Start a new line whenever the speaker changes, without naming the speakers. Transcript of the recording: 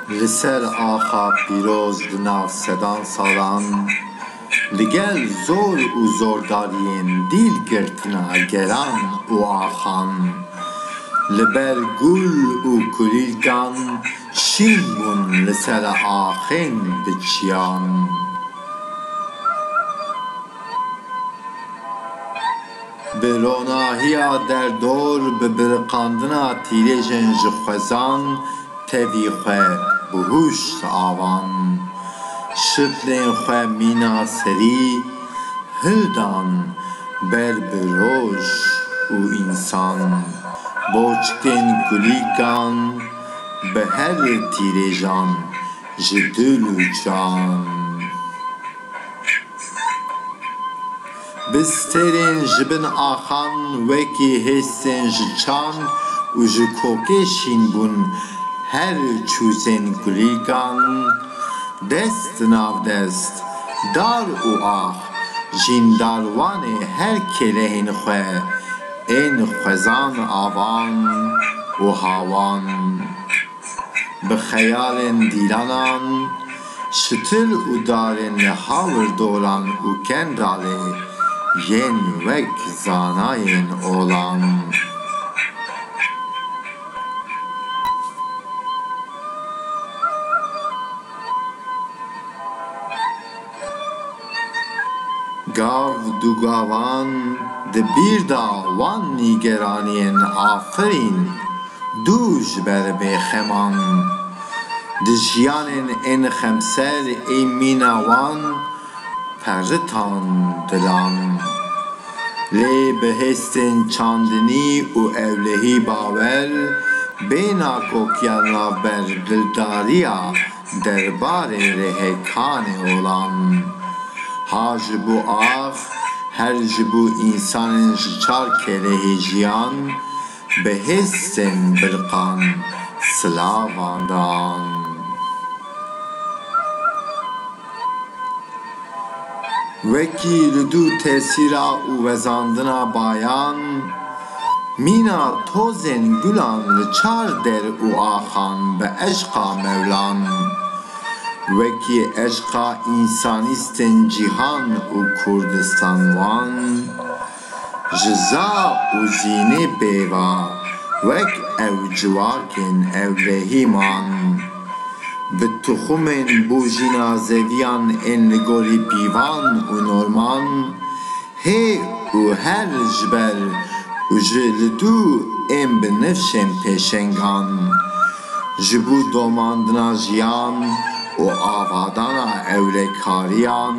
Li ser axa pîroz di nav sedan salan li gel zor û zordariyên dîl girtina geran û axan li ber gul û kulîlkan Şîn bûn li ser axên diçiyan. Bi ronahiya derdor bi biriqandina tîrêjên ji xwezan tevî xwe bi hûş diavan. Şiflên xwe mîna serî hildan ber bi roj û însan. Boçikên kulîkan. bi her tîrêjan ji dil û can. Bi stêrên ji bin axan wekî hêsên ji çan û ji kokê şîn bûn her çûzên kulîlkan. Dest di nav dest, dar û ax, jîndarwanê her kêlehên xwe, Ên xwezan avan û hawan, bi xeyalên dîranan, şitil û darên li hawirdoran û kendalê yên wek zanayên olan. Gav du gavan di bîr da wan nîgeraniyên afirîn du ji ber vê xeman. Di jiyanên ên xemser ê mîna wan peritan didan. Lê bi hêstên çandinî û ewlehî bawer bê nakokiya navber dildariya Derbarê rêhekanê olan, ha ji bo ax, her ji bo însanên ji çar kêlehê jiyan, bi hêsên birqan silavan dan. Wekî li dû tesîra û wezandina bayan, mîna tozên gulan li çar der û axan bi eşqa Mewlan, wekî eşqa însanîstên cîhan û Kurdistan wan, Ji za û zînê pêva wek ew civakên evvehî man. Bi tuxumên bo jîna zeviyan ên li gorî pîvan û norman, hê û her ji ber û ji li dû ên bi nifşên pêşengan, ji bo domandina jiyan û avadana ewlekariyan,